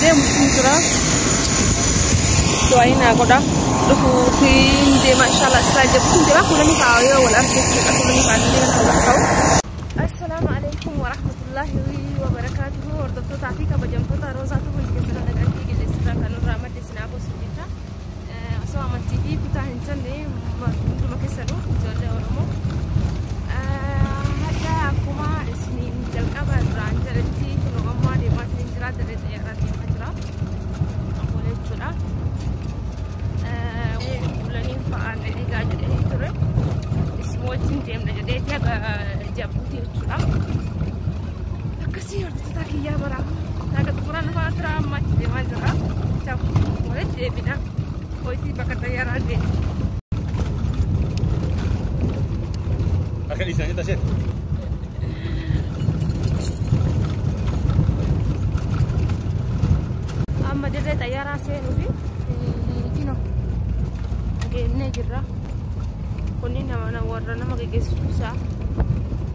deemuutiin jira. Du'aayi naa godha. Dhufuutiin deema inshaallah isaa jechuun jira. Kuulanii fa'aa yoo wal arge jechuudha. Kuulanii fa'aa illee kan wal ta'u. Assalaamu alaikum wa rahmatullahi wa barakaatuhu. Hordoftoota fi kabajamtoota Roozaa Tuubuun keessan nagaan dhiigillee sirraa kan nurraa madde sinaa gosa. Osoo amantii fi kutaa hin jenne hunduma keessanuu ijoollee Oromoo hadda akkuma isiniin jalqaba irraan jedhetti kunoo ammaa deemaa isiniin jira dirree xiyyaarraa deemaa jira akkuma jechuudha. Bulaniin fa'aan eegaa jedhee ture isin wajjin deemna jedhee jabuuti jechuudha. Tii hojjechaa kiyyaa bara naga xumura lafaa tura amma itti deemaa jirra. Chaf walitti deebina. Hojiin bakka xayyaaraa deema. Akka dhiisanii tasheet. Amma dirree xayyaaraa seenuu fi kino deemnee jirra. Kunniin nama warra nama geggeessu isaa.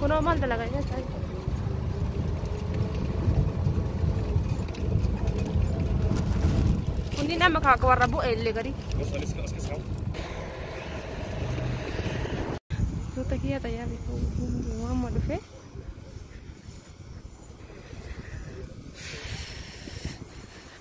Kunoo maal dalagaa keessaa? Kunniin amma kaaka warra bu'e illee gadi. Tuuta kiyya tajaajila fuudhuu amma dhufee.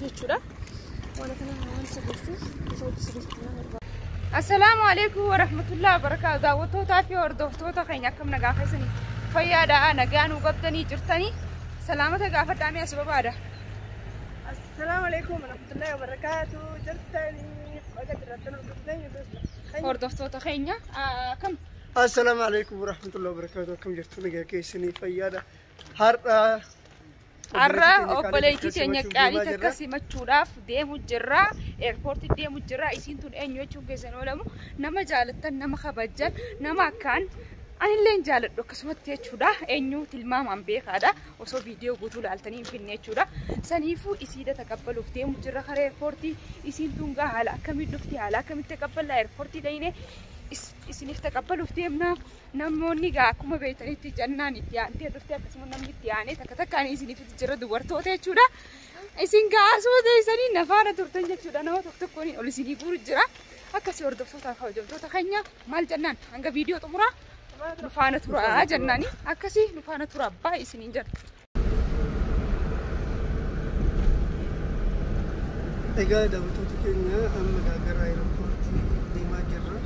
jechuudha. Waan kana waan sirreessuuf isa hojii sirreessuuf nama barbaada. Assalaamu alaikum warahmatullahi wabarakaatu. Daawwattootaa fi hordoftoota keenya akkam nagaa keessanii fayyaadhaa nagaa nuu qabdanii jirtanii salaamata gaafadhaa mee as barbaada. Assalaamu alaikum warahmatullahi wabarakaatu. Jirtanii qoda jirtan hordoftoota keenya. Hordoftoota keenya akkam Assalaamu alaikum warahmatullahi wabarakatuh. Akkam jirtu nagaa keessanii fayyaadha. Har'a Har'a obboleettii teenya qaalii takka simachuudhaaf deemu jirra. Eerpoortii deemu jirra. Isiin tun eenyu jechuun keessan oolamu nama jaalattan, nama kabajjan, nama akkaan anillee hin jaaladhu akkasumatti jechuudha. Eenyu tilmaamaan beekaadha. Osoo viidiyoo guutuu laaltanii hin finne jechuudha. Saniifuu isiidha taqabbaluuf deemu jirra karaa eerpoortii. Isiin tun gaa haala akkamiin dhufti haala akkamitti taqabballaa eerpoortii dhayinee isiniif taqabbaluuf deemna. Namoonni egaa akkuma beektanitti jannaan itti aantee dhufte akkasuma namni itti aanee takka takkaan isiniif jira dubartoota jechuudha. Isin gaasuu teessanii nafaana turtan jechuudha nama tokko tokkoon ol isinii guuru jira. Akkasii hordoftoota fi hojjettoota keenya maal jennaan hanga viidiyoo xumuraa nufaana turaa jennaani akkasii nufaana turaa baay'ee isiniin jenna. Egaa daawwattoota keenya amma gaagara aeropoortii deemaa jirra.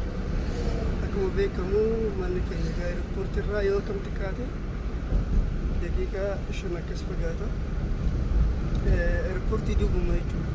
Akkuma beekamu manni keenya egaa aeropoortii irraa yoo kam xiqqaate daqiiqaa shan akkas fagaata. Aeropoortii duubuma jechuudha.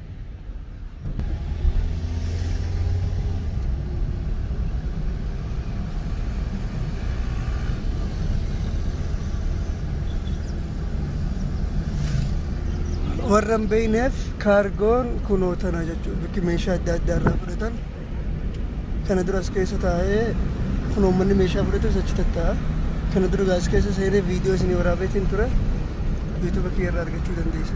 warra hin beekneef kaargoon kunoo tana jechuudha bakki meeshaa adda addaa irraa fudhatan. Kana dura as keessa taa'ee kun uummanni meeshaa fudhatus achi tatta'a. Kana dura gaas keessa seenee viidiyoo isinii waraabeetiin ture yuutuuba kiyya irraa argachuu dandeessu.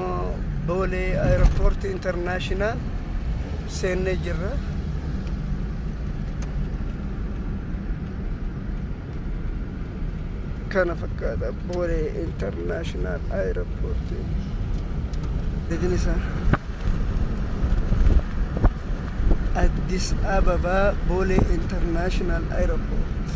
Boolee Aeropoortii Internaashinaal seennee jirra. Kana fakkaata Boolee Internaashinaal Aeropoortii. Jedhin isaa. Addis Ababa Boolee Internaashinaal Aeropoortii.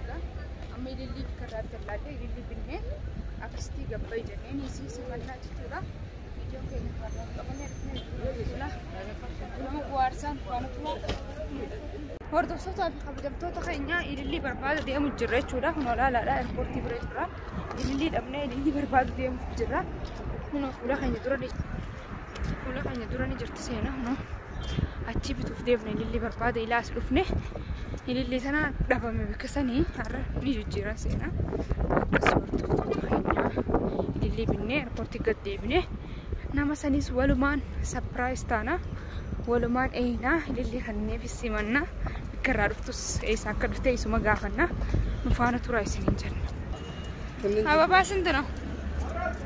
Egaa amma ilillii bakka irraa bitan laallee ilillii binnee akkasitti gabbai jenneen isii simannaa jechuudha. Viidiyoon keenya kaarraa qabannee dhufnee jechuudha. Nama bu'aarsaan waan turaa. Hordoftoota fi kabajamtoota keenya ilillii barbaada deemu jirra jechuudha. Kun olaalaadha eerpoortii bira jirra. Ilillii dhabnee ilillii barbaadu deemu jirra. Kun fuula keenya dura ni fuula keenya dura ni jirti seenaa. achii bituuf deemne ilillii barbaada ilaa as dhufne ilillii sana dhabame bakka sanii har'a ni jijjiiran seenaa akkas hordoftoota keenyaa ilillii binnee erpoortii gad deebine nama saniis walumaan sapiraayis taana walumaan eeynaa ilillii kanneef simanna bakka irraa dhuftus eessa akka dhufte isuma gaafanna nu faana tura isiniin jenna ababaa sinti no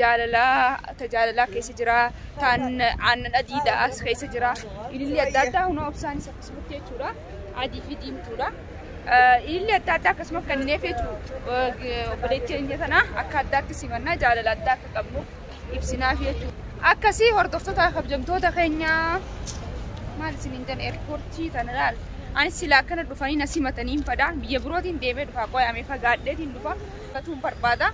jaalalaa ta jaalalaa keessa jira taan aannan adiidha as keessa jira ililli adda addaa hunoo obsaanis akkasumatti jechuudha adii fi diimtuudha ililli adda addaa akkasuma kennineef jechuudha obboleetti keenya sana akka addaatti simannaa jaalala addaa akka qabnu ibsinaaf jechuudha akkasii hordoftoota kabjamtoota keenya maal isin hin jedhan eerpoortii tana laal anis silaa akkana dhufanii na simatanii hin fadaa biyya birootiin deemee dhufaa qoyaamee fagaadheetiin dhufaa Simatuun barbaada.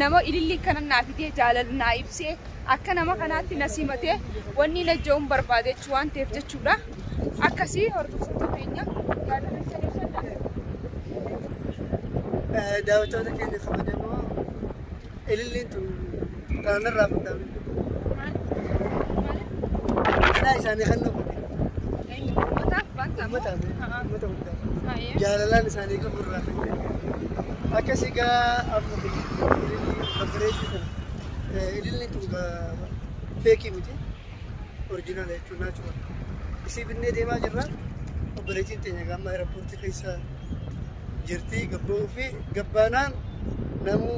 Nama ilillii kana naa fidee jaalala naa ibsee akka nama kanaatti na simatee wanni na jechuun barbaade jechuu waan ta'eef jechuudha. Akkasii hordoftoota keenya jaalala isaanii kan daawwattoota keenya kabajamoo ililliin tun Kanaan irraa fudhaa miti. Kanaa isaanii kan nuuf godhe. Uummataaf uummata hundaaf. Jaalalaan isaanii qabu irraa kan ka'e. Akka si gaa amma babbareedduu kana. Idilli tun feekii miti. Orjinaala jechuun naachuma. Isii binnee deemaa jirra. Obboleettiin teenya gaamma aeropoortii keessa jirti gabboo fi gabbaanaan namuu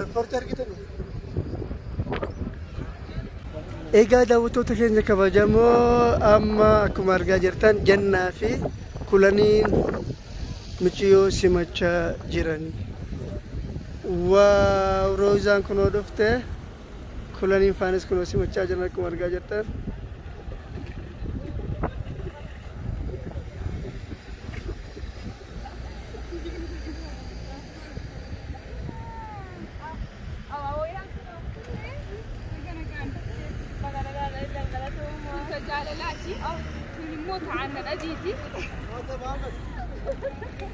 Riippoortii argitanii? Egaa daawwattoota keenya kabajamoo amma akkuma argaa jirtan jannaa fi kulaniin miciyoo simachaa jiran. Waaw roozaan kunoo dhufte. Kulaniin faanis kunoo simachaa jiran akkuma argaa jirtan.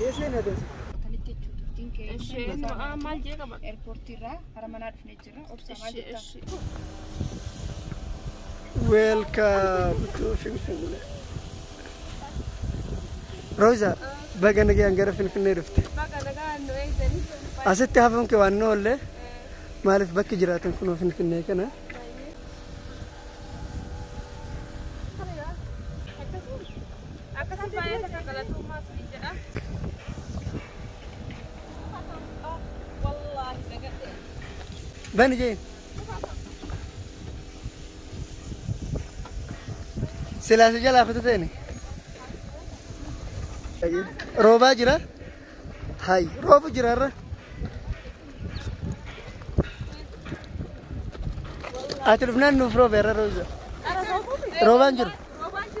Akkamitti jechuudha? Isheen maal jee qaba? Eerpoortii irraa hara manaa dhufne Welcome to Finfinnee. Roza, baga nagaan gara Finfinnee dhufte. Asitti hafuun kee waan oolle maaliif bakki jiraatan kunoo Finfinnee kana. Akkasuma baay'ee takka galatoomaa tuni jedha. Wallaahi dagadhee. Bani jeen. Silaa si jalaa kutu teene. Roobaa jira. Hay roobu jira irra. Ati dhufnaan nuuf roobe irra roobu jira. Roobaan jiru. Roobaan jiru.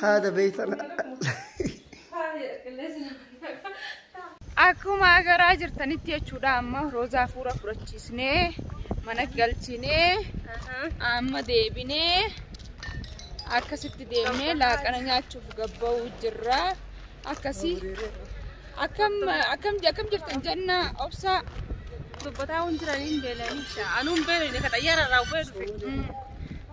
haada beeytan Akkuma agaraa jirtanitti jechuudha amma roozaa fuura fudhachiisnee mana galchinee amma deebinee akkasitti deemnee laaqana nyaachuuf gabba'uu jirra akkasii akkam akkam akkam jirtan jenna obsaa Dubbataa waan jiraniin beelanii. Anuun beelanii ka xayyaara irraa bu'ee dhufe.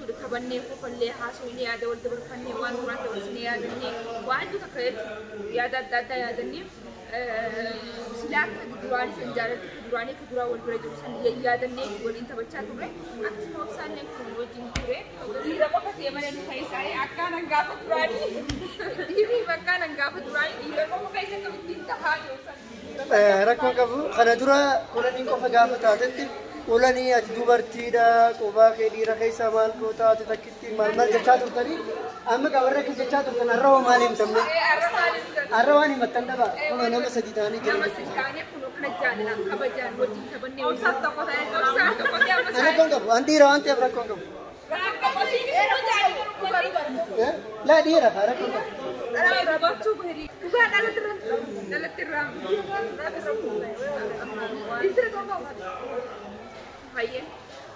wal kabannee kofallee haasoynee yaada wal dabarfannee waan duraan dabarsine yaadannee waa hedduu takka jechuudha yaada adda addaa yaadannee silaa akka duraanii san jaalalti akka duraanii akka duraa wal bira jiru san yayyaadannee itti waliin taphachaa turre akkasuma obsaallee akkuma wajjin ture dhiira qofa ta'e malee nu keessaalee akkaan hangaafa duraanii dhiirri bakkaan hangaafa duraanii dhiira qofa keessa akka ittiin tahaa jiru san Rakkoon qabu kana dura ulanii qofa gaafa taatetti ulanii ati dubartiidha qubaa kee dhiira keessaa maal goota ati takkitti maal maal jechaa turtanii amma gaa warra akkas jechaa turtan har'a hoo maal himtamne har'a waan himattan dhabaa kunoo nama sadii ta'anii jiran jechuudha. Rakkoon qabu an dhiira waan ta'eef rakkoon qabu. Laa dhiira faara kurba.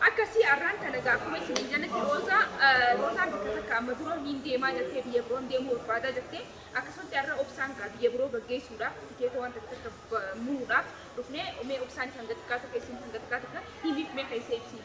Akkasii har'aan kana gaafuma isin jalatti roozaa roozaan bakka takka amma dura niin deemaa jettee biyya biroon deemuu barbaadaa jettee akkasumatti har'a obsaan gaa biyya biroo gaggeessuudhaaf tikeeta wanta takka muruudhaaf dhufnee mee obsaan isin gattikaa tokko isin isin gattikaa tokko himiif mee keessee ibsiin.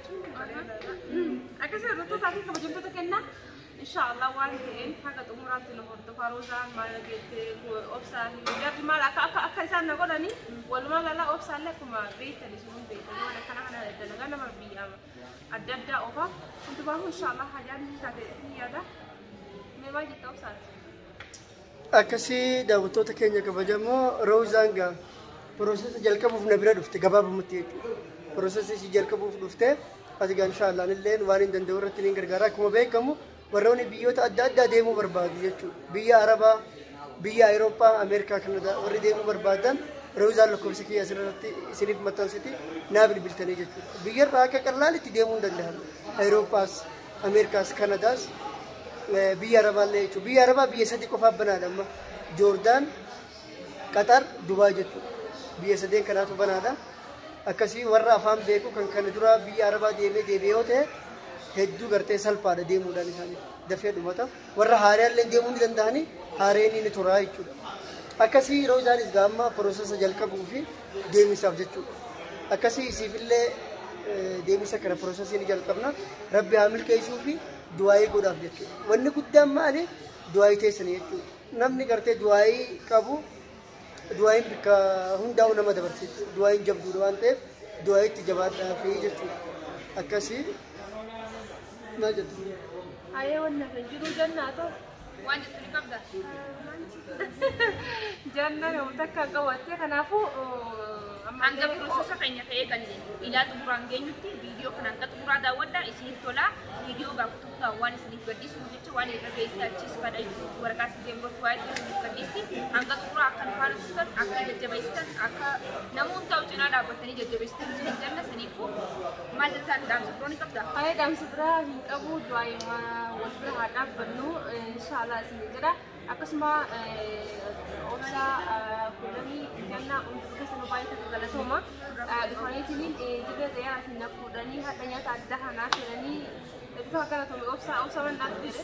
Akkasii hordoftoota fi kabajamtoota kennaa inshaallah waan ta'een haga xumuraatti nu hordofaa roozaan maal jettee obsaan jarri maal akka akka akka isaan na godhanii walumaa gala obsaallee akkuma beektan isin hundi beektan waan akkana kana dalagaa nama biyya adda addaa oofaa hundumaa inshaallah hajaan taate ni yaada mee maal jetta obsaati. Akkasii daawwattoota keenya kabajamoo Roozaan gaa piroosesa jalqabuuf na bira dhufte gabaabumatti jechuudha. Piroosesa isii jalqabuuf dhufte ati gaa inshaallaan illee waan hin danda'u irratti ni gargaara. Akkuma beekamu warroonni biyyoota adda addaa deemuu barbaadu jechuudha. Biyya Arabaa, biyya Awurooppaa, Ameerikaa, Kanadaa warri deemuu barbaadan Roozaan lakkoofsa kiyya asirratti isiniif maxxansiti naa bilbiltanii jechuudha. Biyyarraa akka qallaalitti deemuu hin danda'amu. Awurooppaas, Ameerikaas Kanadaas biyya Arabaallee jechuudha. Biyya Arabaa biyya sadii qofaaf banaadha amma. Joordaan, Qaxar, Dubaay jechuudha. Biyya sadeen kanaatu banaadha. Akkasii warra afaan beeku kan kana dura biyya Arabaa deemee deebi'ee yoo ta'e hedduu gartee salphaadha deemuudhaan isaanii dafee dhumata. Warra haaraallee deemuu ni danda'anii haareen ni turaa jechuudha. Akkasii yeroo isaanis gaamma piroosesa jalqabuu fi deemisaaf jechuudha. Akkasii isiifillee deemisa kana piroosesii ni jalqabna. Rabbi haa milkeessuu fi du'aayii godhaaf jechuudha. Wanni guddaan maali? Du'aayii teessanii jechuudha. Namni gartee du'aayii qabu du'aayiin bakka hundaa'u nama dabarsa jechuudha. Du'aayiin jabduudha waan ta'eef du'aayiitti jabaadhaa fi jechuudha. Akkasii maal jettu? Ayee wanna kan jiru jannaa ta'u. Waan jettu ni qabda. Janna yoo takka qabatte kanaafuu Hanga piroososa keenya ta'ee kan ilaa xumuraan geenyutti viidiyoo kana hanga xumuraa daawwadha isiniif tola viidiyoo gaafa tokko waan isiniif gadhiisuuf jecha waan irra geessee achiis fadha waraqaa siteen gochuu waa'ee isiniif gadhiisti hanga xumuraa akka nu faana turtan akka jajjabeessitan akka namoota cinaa dhaabbatanii jajjabeessitan isiniif janna isiniifuu Maal jettaan dhaamsa biroo ni qabdaa? Haye dhaamsa biraa hin qabu du'aayuma wal bira haa dhaabbannu inshaallah isin jedha akkasuma obsa kuulanii gannaa hunduu keessa nu baay'ee tokko galatooma dhufaniitiin dirree xayyaara isin na fuudhanii hadha nyaata adda hanaa fedhanii bifa galatoome obsa obsa mannaa fedhe.